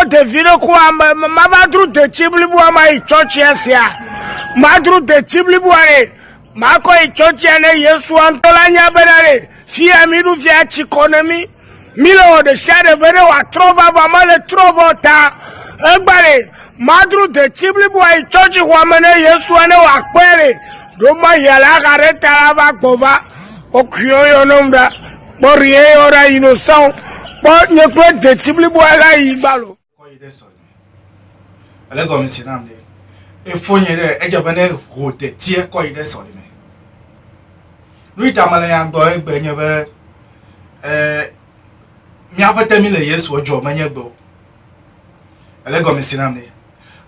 O ɖevi ɖe ku ame mava dro detsi bliboa ma yi tsɔtsia sia. Madro detsi bliboa ɖe. Makɔ yi tsɔtsia ne Yesu ŋutɔ la nya bena ɖe fia mi ɖo fia tsi kɔ ne mi. Mi le wɔ ɖe sia ɖe be ne wòatrɔ va va mele trɔ vɔ ta. Egba ɖe madro detsi bliboa yi tsɔtsi xɔa me ne Yesu ne wòakpɔe ɖe. Ɖo ma yia la xa ɖe ta la va gbɔ va. Wokuyɔ yɔ ne ŋu ɖa. Kpɔ ri eye ɔ ɖa yi no são. Kpɔ nye kple detsi blibo a ɖa yi gbalo. Kɔ yi ɖe sɔ nye. Ele gɔme si nam ɖe. Efo nye ɖe edze be ne ho detsiɛ kɔ yi ɖe sɔ ɖe me. Nu yi ta mele nya gbɔ egbe nye be e mía ƒete mi le Yesu edzɔ me nye gbe o. Ele gɔme si nam ɖe.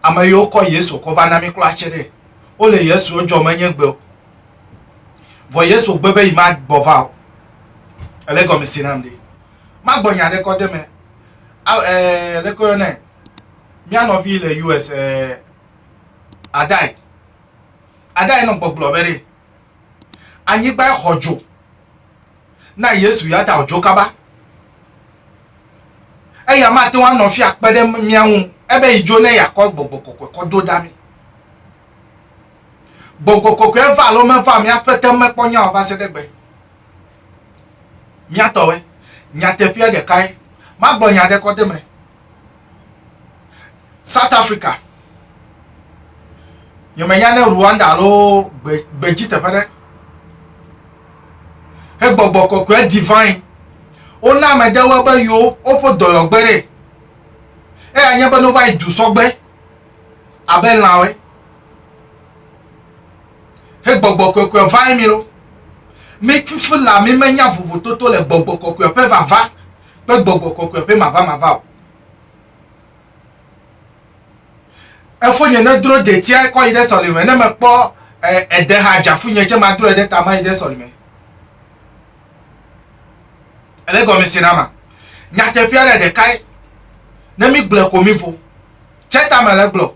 Ame yiwo kɔ Yesu kɔ va na mi kpla tse ɖe. Wo le Yesu edzɔ me nye gbe o. Vɔ Yesu gbe be yi ma gbɔ va o. Ele gɔme si nam ɖi. Ma gbɔ nya ɖe kɔ de me. Aw ɛ eh, le koyo ne. Mia nɔvi le US ɛ eh, adai. Adai nɔ gbɔgblɔ be ɖe. Anyigba xɔ dzo. Na Yesu ya ta dzo kaba. Eya ma te wa nɔvi akpe ɖe mia ŋu. Ebe yi dzo ne yakɔ gbɔgbɔ kɔkɔ kɔ do dami. Gbɔgbɔ kɔkɔea va alo meva mía ƒete mekpɔ nya o va se ɖe gbe. Mía tɔwɔe. Nyateƒea ɖekae. Magblɔ nya ɖe kɔ de me. South Africa. Nye me nya ne Rwanda alo gbe, gbe dzi teƒe ɖe. He gbɔgbɔ kɔkɔe divine. Wona ame ɖewo be yo woƒe dɔyɔgbe ɖe. Eya nye be no va yi du sɔgbe. Abe lãwe. He gbɔgbɔ kɔkɔe vae mi lo. Mi fifi la mi menya vovototo le gbɔgbɔ kɔkɔe ƒe vava kple gbɔgbɔ kɔkɔe ƒe mavamava o. Efo nye ne dro detia kɔ yi ɖe sɔlime ne mekpɔ ede eh, ha dzafu nye tse madro ede tama yi ɖe sɔlime. Ele gɔme si na ma. Nyateƒea ɖe ɖekae. Ne mi gblɔ ko mi vo. Tse tame le gblɔ.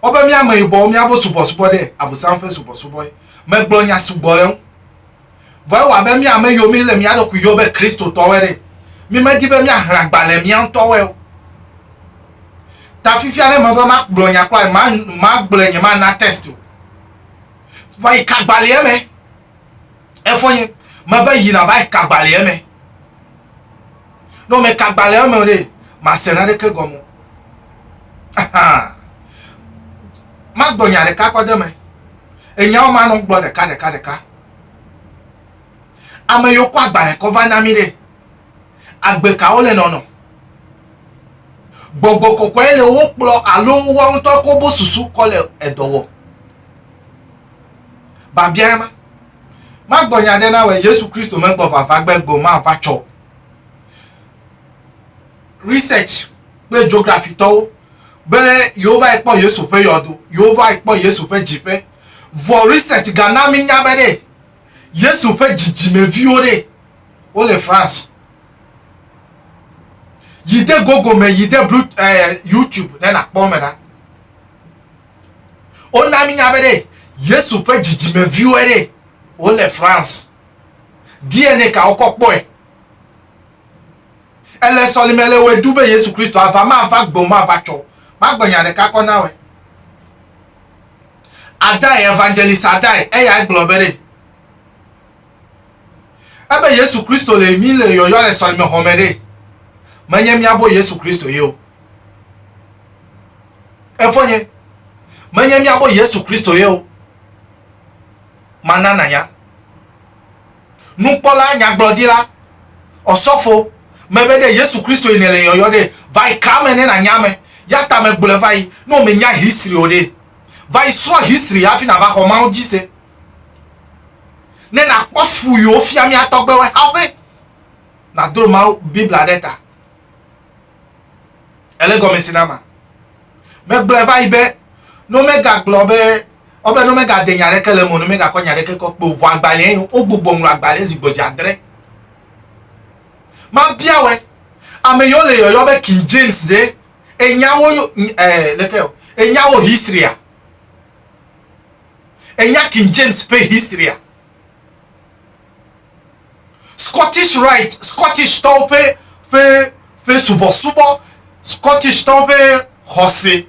Wobe mía ameyibɔwo míabo subɔsubɔ ɖe, Abosam ƒe subɔsubɔe. Megblɔ nya sugbɔ ɖe eŋu. Vɔ ewɔ abe mía ame yiwo míele mía ɖokui yɔ be Kristotɔwoe ɖe. Mímedi be míahlẽ agbalẽ mía ŋutɔwoe o. Ta fifia ne mebe magblɔ nya kura, magblɔe nyemana test o. Vɔ yi ka gbalẽa me? Efɔ nye mebe yi nava yi kagba le eme. Ne wome kagba le eme ɖe, mase naneke gɔme. Ahan. Magblɔ nya ɖeka kɔ de me. Enyawo ma nɔ gblɔ ɖeka ɖeka ɖeka. Ame yiwo kɔ agbalẽ kɔ va na mi ɖe, agbe kawo le nɔnɔ? Gbɔgbɔ kɔkɔe le wo kplɔ alo woawo ŋutɔ ko bo susu kɔ le edɔ wɔ? Babia ema. Magbɔ nya ɖe na wɛ Yesu Kristo megbɔ vava gbe gbe ma va tsɔ. Research kple geography tɔwo be yewo va ekpɔ Yesu ƒe yɔdo, yewo va ekpɔ Yesu ƒe dziƒe. Vɔ research ga na mi nya be ɖe Yesu ƒe dzidzime viwo ɖe wo le France. Yi de Google me, yi de eh, YouTube ne na kpɔ me na. Wona mínya be ɖe Yesu ƒe dzidzimeviwoe ɖe wole France. DNA ka wokɔ kpɔe? Ele sɔlime le wɔe ɖu be Yesu Kristo ava, mava gbɔ, mava tsɔ. Magblɔ nya ɖeka kɔ na wɔe. Adai, evangelist Adai, eyae gblɔ be ɖe ebe Yesu Kristo le mí le yɔyɔ le sɔlimexɔme ɖe menye míabo Yesu Kristo ye o. Efonye, menye mía gbɔ Yesu Kristo ye o. Mana nanya. Nukpɔla, nyagblɔdila, ɔsɔfo, mebe ɖe Yesu Kristo yi nele yɔyɔ ɖe, va yi ka me ne nanya ame. Ya ta me gblɔe va yi, ne menya history o ɖe, va yi srɔ history hafi nava xɔ Mawu dzi se. Ne nakpɔ fu yiwo fia mía tɔgbewe hafi nadro Mawu Biblia ɖe ta. Ele gɔme si na ma. Megblɔe va yi be, ne womegagblɔ be, wobe ne womegade nya aɖeke le eme o, ne womegakɔ nya aɖeke kɔ kpe o, vɔ agbalẽe wogbugbɔ ŋlɔ agbalẽ zi gbɔ zi adre. Mabia wɛ. Ame yiwo le yɔyɔ be King James ɖe, ènya wo, eh, leke o, ènya wo historya? Ènya King James ƒe historya? Scottish Rite, Scottishtɔwo ƒe, ƒe, ƒe subɔsubɔ, Scottishtɔwo ƒe xɔse,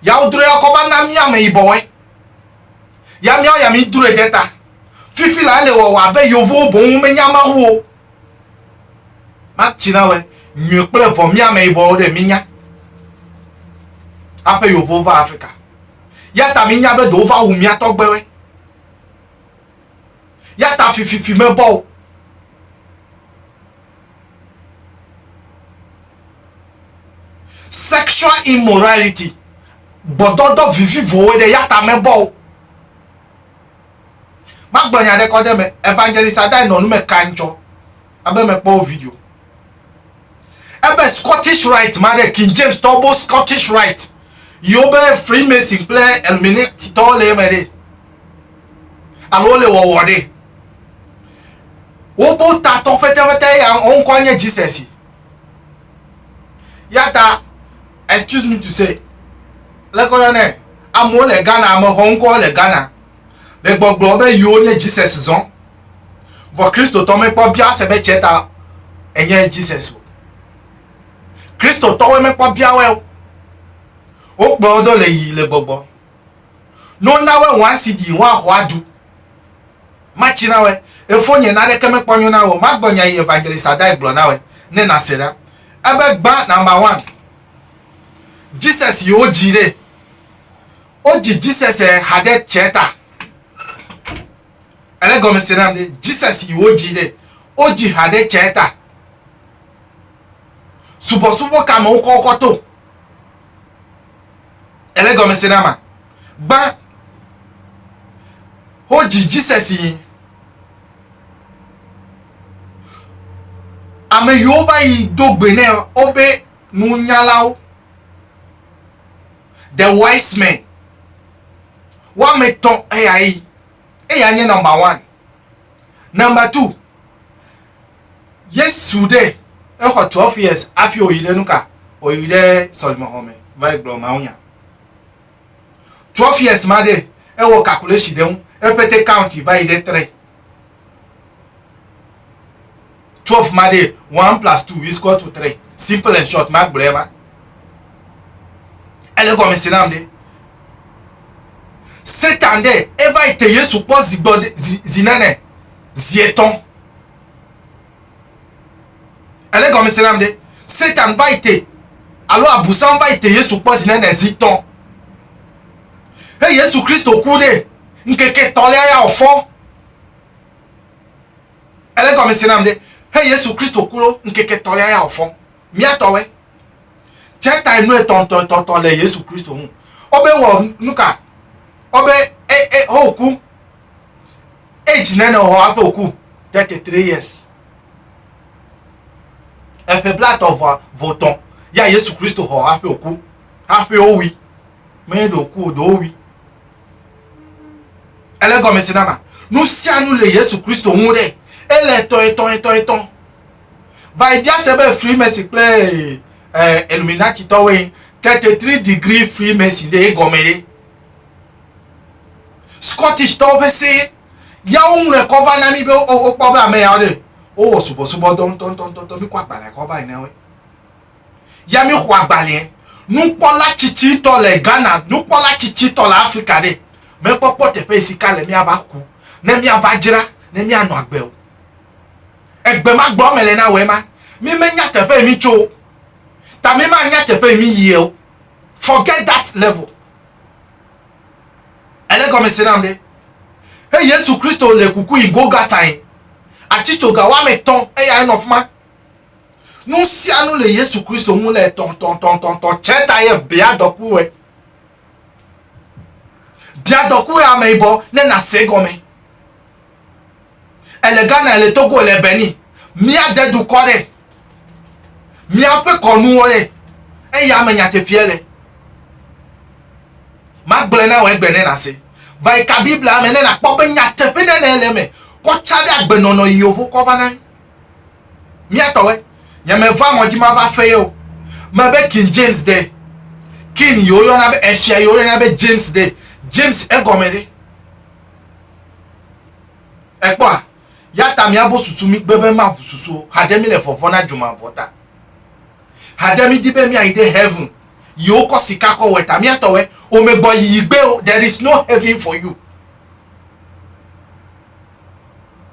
ya wodrɔe ya kɔ va na mía ameyibɔwoe, ya míawo ya mídrɔe de ta. Fifi la ele wɔwɔ abe Yevowo boŋ womenya Mawu o. Matsi na wɛ, nyui kple vɔ mía ameyibɔwo ɖe mínya haƒe Yevowo va Afrika. Ya ta mínya be ɖe wova wu mía tɔgbewoe. Ya ta fififi mebɔ o. Sexual immorality. Gbɔdɔdɔ vivivowo ɖe ya ta mebɔ o. Magblɔ nya ɖe kɔ ɖe me. Evangelist Adai nɔ nu me kanjɔ. abe mekpɔ wo video ebe scottish right ma ɖe king james tɔ bo scottish right yiwo be freemason kple illuminati tɔwo le eme ɖe alo wole wɔwɔ ɖe wobo tatɔ pɛtɛpɛtɛ ya wo ŋkɔ nye jesus ya ta excuse me to say lɛkɔyɔ nɛ amewo le ghana amexɔ ŋkɔ le ghana Le gbɔgblɔ be yiwo nye Jesus zɔn. Vɔ Kristotɔ mekpɔ bia se be cɛ ta enye Jesus o. Kristotɔwoe mekpɔ bia wɛ o. Wokplɔ wo do le yi le gbɔgbɔ. No na wɛ wɔn asi di wɔn axɔ adu. Matsi na wɛ. Efo nye na ɖeke mekpɔ nyo na wɛ o. Magbɔ nya yi evangelist adai gblɔ na wɛ ne na se ɖa. Ebe gba number one. Jesus yi wo dzi ɖe. wodzi Jesus ha ɖe tsɛ ta. Ele gɔme se nam ɖe Jesus yi wodzi ɖe wodzi ha ɖe tsɛ ta. Subɔsubɔ ka me wokɔ wokɔ to. Ele gɔme se nama. Gbã wodzi Jesus yi. Ame yiwo va yi do gbe nɛ wobe nunyalawo. the wise men woame etɔ̃ eya ye eya nye nɔmba one nɔmba two yesu ɖe exɔ twelve years hafi wòyi ɖe nu ka wòyi ɖe sɔlimexɔ me va yi gblɔ mawunya twelve years ma ɖe ewɔ calculation ɖe ŋu eƒete county va yi ɖe tre 12 ma ɖee, one plus two is equal to three. Simple and short, magblɔe ma. Ele gɔme si nam ɖe. Satan ɖe eva yi te Yesu kpɔ zi gbɔ zi zi nene zi etɔ̃. Ele gɔme si nam ɖe. Satan va yi te alo abusan va yi te Yesu kpɔ zi nene zi tɔ̃. He Yesu Kristo ku ɖe ŋkeke tɔ̃lia ya ofɔ. Ele gɔme se nam ɖe, he Yesu Kristo ku lo ŋkeke tɔ ya ya o fɔn mia tɔ we. Tse ta enu etɔ ŋtɔ etɔ ŋtɔ le Yesu Kristo ŋu. O be wɔ nuka? O be e e ho ku age nene o hɔ aƒe oku 33 years. Eƒe bla tɔ vɔ vɔ tɔ ya Yesu Kristo hɔ aƒe oku. Aƒe o wi. Me ɖo ku o do o wi. Ele gɔme si nama. Nu sia nu le Yesu Kristo ŋu ɖe. Ele etɔn etɔn etɔn etɔn. Va yi bia se be Freemason kple eh, Illuminati tɔwoe 33 degree Freemason ɖe egɔme ɖe. Scottish tɔwo ƒe se yawo ŋlɔe kɔ va na mi be wokpɔ be ame yawo ɖe wowɔ subɔsubɔdɔ ŋutɔŋutɔŋutɔ mikɔ agbalẽ kɔ va yi na woe. ya mi xɔ agbalɛ nukpɔla tsitsitɔ le Ghana nukpɔla tsitsitɔ le Afrika ɖe me kpɔkpɔ teƒe si ka le miava ku ne miava dzra ne mia nɔ agbe o egbe ma gbɔ me le na wɛ ma mi me nya teƒe mi tso o ta mi ma nya teƒe mi yie o forget that level ele gɔme se nam ɖe he Yesu Kristo le kuku yi Golgata yi atsitsoga wa me tɔn eya enɔ fuma Nu sia nu le Yesu Kristo ŋu le tɔntɔntɔntɔntɔ tsɛ ta ye bia dɔkuwe. Bia dɔkuwe ame yibɔ ne nase gɔme. Ele Ghana, ele Togo, ele Benin. Míade dukɔ ɖe. Míaƒe kɔnuwo ɖe. Eya me nyateƒeɛ le. Magblɔe na wò egbe ne nase. Va yi ka Biblia me ne nàkpɔ be nyateƒenenee le eme kɔ tsã ɖe agbenɔnɔ yiyovo kɔ va na mí. Miatɔwe, nye me va mɔ dzi mava fe ye o. Me be King James de. King yi woyɔna be efia yi woyɔna be James de. James egɔme ɖe. Ekpɔa, ya ta miabo susu mi gbe be maʋu susu o. Haɖe mi le vɔvɔ na dzomavɔ ta. Haɖe mi di be miayi ɖe heaven yi wokɔ sika kɔ wɔ ta. Miatɔwe, o me gbɔ yiyi gbe o. There is no heaven for you.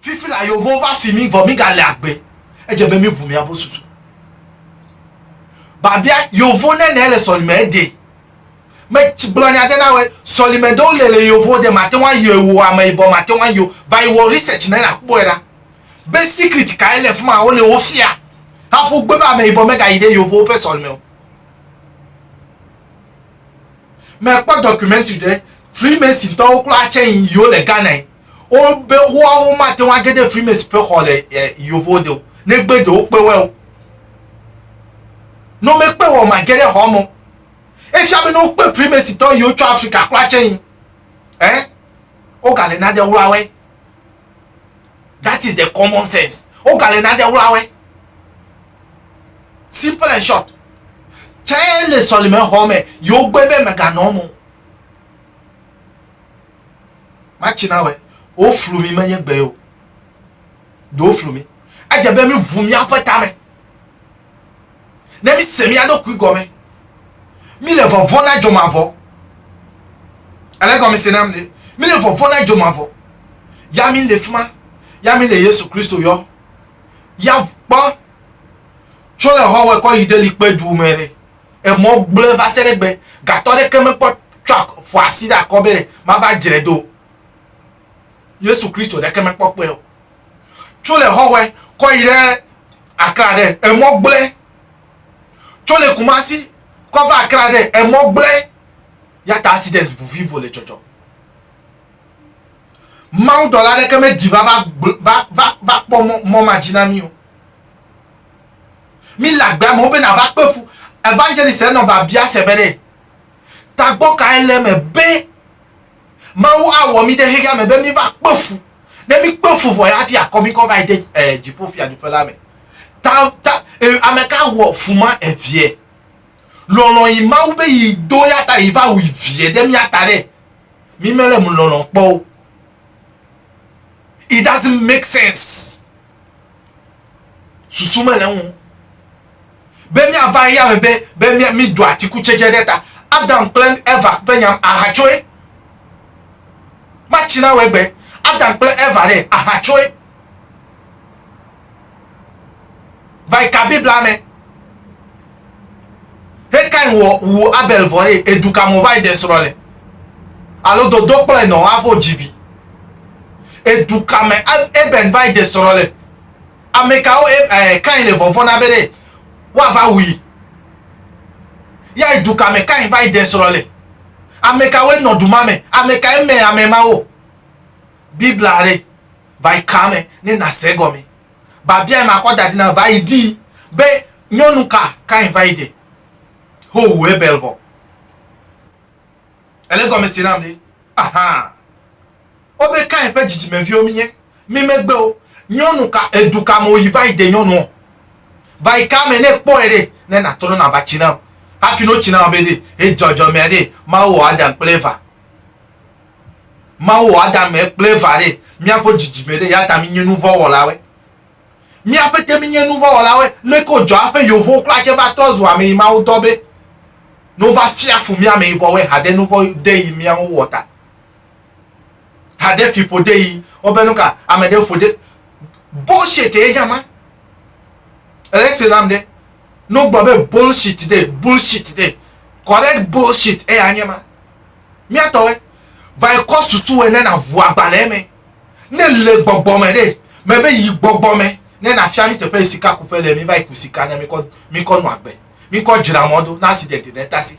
Fifi la yovo va fi mi vɔ mi ga le agbe. Edze be mi bu mi abo susu. Babia yovo ne ne le sɔlime ede. Me gblɔ nya de na we sɔlime do le le yovo de ma te wa yo ewo ame ibɔ ma te wa yo va yi wo research ne la kpo era. Be secret ka ele fuma wo le wo fia. Ha pu gbe ba me ibɔ me ga yi de yovo pe sɔlime o. Me kpɔ documentary de Freemason tɔwo klo atse yi yo le Ghana. wobe woawo mate ŋu age ɖe frimesi ƒe xɔ le eh, yovo de o negbe ɖe wokpe wɔe o ne womekpe wɔ mage ɖe xɔ me efia be ne wokpe frimesi tɔ yi wotsɔ afrika kura tse yi eh wogale nane wlawɛ that is the common sense wogale nane wlawɛ simple and short tse le sɔlime xɔ me yewo gbe be meganɔ mo Matsi na wɛ. Woflu mi menye gbe o. Do woflu mi. Edze be mi ʋu miaƒe tame. Ne mi se mia ɖokui gɔme. Mi le vɔvɔ na dzɔ mavɔ. Ele gɔme se nam ne. Mi le vɔvɔ na dzɔ mavɔ. Ya mi le fima. Ya mi le Yesu Kristo yɔ. Ya kpɔ. Tso le hɔ wɛ kɔ yi ɖe likpe du mɛ ne. Emɔ gblẽ va se ɖe egbe. Gatɔ aɖeke mekpɔ tsɔa, ƒoa asi ɖe akɔ be mava dzre do o. Yesu Kristo ɖeke mekpɔ kpɔe o. Tso le Hɔhɔe kɔ yi ɖe Accra ɖe, emɔ gblẽ. Tso le Kumasi kɔ va Accra ɖe, emɔ gblẽ. Yata accident vovivo le dzɔdzɔ. Mawu dɔla aɖeke medi va va va va kpɔ mɔ mɔ ma dzi na mí o. Mi le agbe amewo be nava kpe fu. Evangelist enɔ babia se be ɖe tagbɔ kae le eme be Mawu awɔ mi ɖe xexea me be mi va kpe fu. Ne mi kpe fu vɔ ya hafi akɔ mi kɔ va yi de eh, dziƒo fiaɖuƒe la me. Ta, ta, eh, ame ka wɔ fu ma eviɛ? Lɔlɔ yi Mawu be yi do ya ta yi va wu viɛ ɖe mia ta ɖe. Mi mele mu lɔlɔ kpɔ o. It doesn't make sense. susu mele ŋu be míava eya me be be mído atikutsetse ɖe ta adam kple eva ƒe nyam ahatsoe matsi na wegbe adam kple eva ɖe ahatsoe va yi ka biblia me He Kain wɔ wu Abel vɔ ye edu kamɔ va yi de srɔ le? Alo dodo kplɔe nɔ avo dzi vi? Edu kame Abel va yi de srɔ le? Amekawo Kain le vɔvɔn na be ɖe wa va wui? Ya edu kame Kain va yi de srɔ le? Amekawoe nɔ du ma me? Amekae mɛ amɛ mawo? Bibla ɖe va yi kame ne na se gɔme. Babiae makɔ da ɖi na va yi dii be nyɔnu ka Kain va yi ɖe howu Abel vɔ. Ele gɔme se nam ɖe? Ahaa. Wobe Kain ƒe dzidzimeviwo mínye. Mí megbe o. Nyɔnu ka, edu ka me wòyi va yi de nyɔnuɔ? Va yi ka me ne èkpɔe ɖe, ne nàtrɔ nàva tsi nam? Hafi ne wotsi nam be ɖe, edzɔdzɔmea ɖe, Mawu wɔ Adam kple Eva Mawu wɔ Adam kple Eva ɖe míaƒe dzidzime ɖe, eya ta mínye nuvɔ̃wɔlawoe. Mía ƒete mínye nuvɔ̃wɔlawoe. Leke wodzɔ eƒe yevuwo kura tse va trɔ zu ame yi Mawu dɔ be ne wova fia fu mí ameyibɔwoe haɖe nuvɔ̃ de yi mía ŋu wɔ ta? Haɖe fiƒo de yi wo be nuka ame ɖe ƒo ɖe. Bullshit ye nye ma. Ele sri nam ɖe. Ne wogblɔ be bullshit de, bullshit de, correct bullshit eya nye ma. Míatɔwe, vae kɔ susu wɛ ne naʋu agbalẽ me. Ne le gbɔgbɔ me ɖe, mebe yi gbɔgbɔ me ne nafia mí teƒe yi sikakuƒe le, mívayi ku sika ne míkɔ, míkɔ nɔ agbe, míkɔ dzra mɔ do, ne accident ɖe tasi.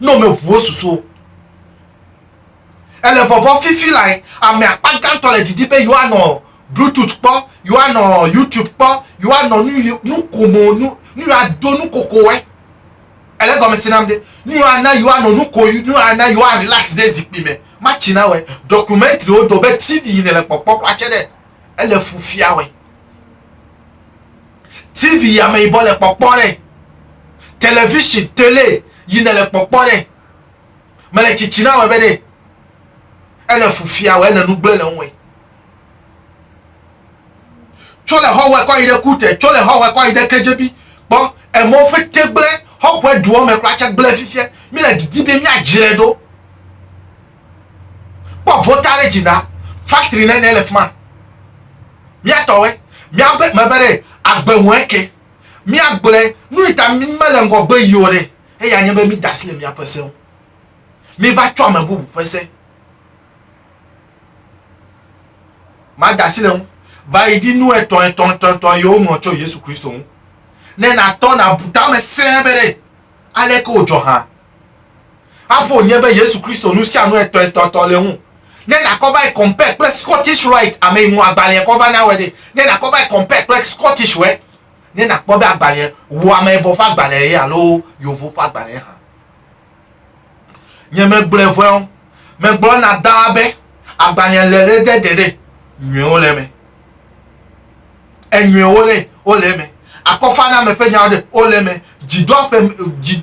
ne womeʋu wo susuwo. Ele vɔvɔ fifi lae ame akpa gãtɔ le didi be yewoanɔ Bluetooth kpɔ, yewoanɔ YouTube kpɔ, yewoanɔ nu yi nu komo nu nu yi ado nu kokoe. Ele gɔme si nam ɖe nu yi ana yewoanɔ nu ko nu yi ana yewoa relax ɖe zikpui me. Matsi na wɛ documentary wo do be TV yi nele kpɔkpɔ kura tse ɖe ele fu fia wɛ. TV yi ameyibɔ le kpɔkpɔ ɖe, television, tele yi ne le kpɔkpɔ ɖe. Me le tsitsi na wɔ be ɖe. Ele fufia wɔ ele nu gble le ŋue. Tso le hɔ wɔ kɔ yi ɖe kute, tso le hɔ wɔ kɔ yi ɖe kedzebi. Kpɔ emɔ ƒe te gble hɔ wɔ duɔ me kpla tse gble fifia. Mi le didi be mi adzre do. Kpɔ vota ɖe dzi na factory nene le fima. Mia tɔwe, mia be mebe ɖe agbe ŋu eke. Mia gblɔe nu yi ta mi mele ŋgɔ gbe yio ɖe eya nye be mi dasi le mia ƒe se ŋu. Mi va tsɔ ame bubu ƒe se. Ma dasi le ŋu. Va yi ɖi nu etɔ etɔ etɔ etɔ yio ŋlɔ tso Yesu Kristo ŋu. Ne na tɔ na bu tame se be ɖe aleke o dzɔ ha. Aƒo nye be Yesu Kristo nu sia nu etɔ etɔ tɔ le ŋu. Ne nakɔ va yi compare kple Scottish Rite ame yi ŋu agbalẽa kɔ va na wòe ɖe, ne nakɔ va yi compare kple Scottish wòe, ne nakpɔ be agbalẽa wu ameyibɔ ƒe agbalẽa ye alo Yovo ƒe agbalẽa hã. Nye megblɔe vɔe o, megblɔ na Daa be agbalẽa le le ɖe geɖe nyuiwo le eme. Enyuiwo ɖe wole eme, akɔfaname ƒe nyawo ɖe wole eme, dzidoaƒe, dzi,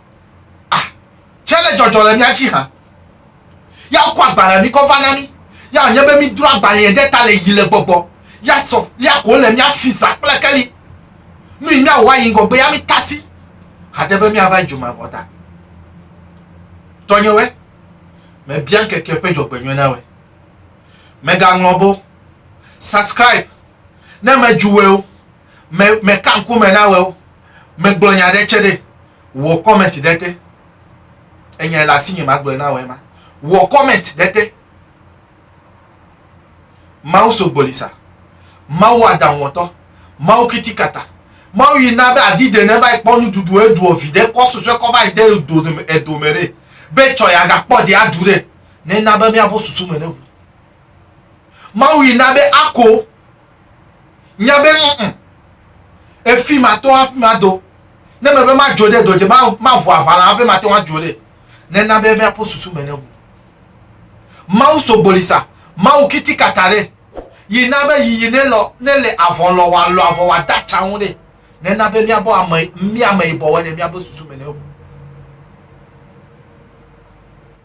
Ah, tse le dzɔdzɔ le mía dzi hã. Ya kɔ agbalẽ mi kɔ va na mi. Ya wònye be mi dro agbalẽ ɖe ta le yi le gbɔgbɔ. Ya sɔ ya ko le mía fi za kple keli. Nu yi mía wɔ ayi ŋgɔgbe ya mi tasi. Hade be mía va dzuma vɔ ta. Tɔnyewɛ, me bia ŋkeke ƒe dzɔgbenyɔe na wɛ. Mega ŋlɔ bo. Subscribe. Ne me dzu wɛ o. me me ka ŋku me na weo me gblɔ nya ɖe tse ɖe wɔ comment ɖe te enya le asinye ma gblɔ na wɔ ema wɔ comment ɖe te mawu so gbolisa mawu aɖaŋuwɔtɔ mawu kitikata mawu yi na be adi de ne va kpɔ nuɖuɖu eɖuɔ vi ɖe kɔ susue kɔ va de dome edome ɖe be tsɔ ya gakpɔ de aɖu ɖe ne na be miabo susu me ne ŋu mawu yi na be ako Nya be ŋ, efi matɔ hafi mado. Ne mebe madzo ɖe dɔ dze, maʋu aʋa la hafi mate ŋu adzo ɖe. Nena be míaƒe susu me neʋu. Mawu sogboli sa, Mawu kiti kata ɖe, yi na be yiyi nelɔ, nele avɔ lɔ wòalɔ avɔ wòade atsa ŋu ɖe. Nena be míabɔ ame, mía ameyibɔwɔe ɖe míaƒe susu me neʋu.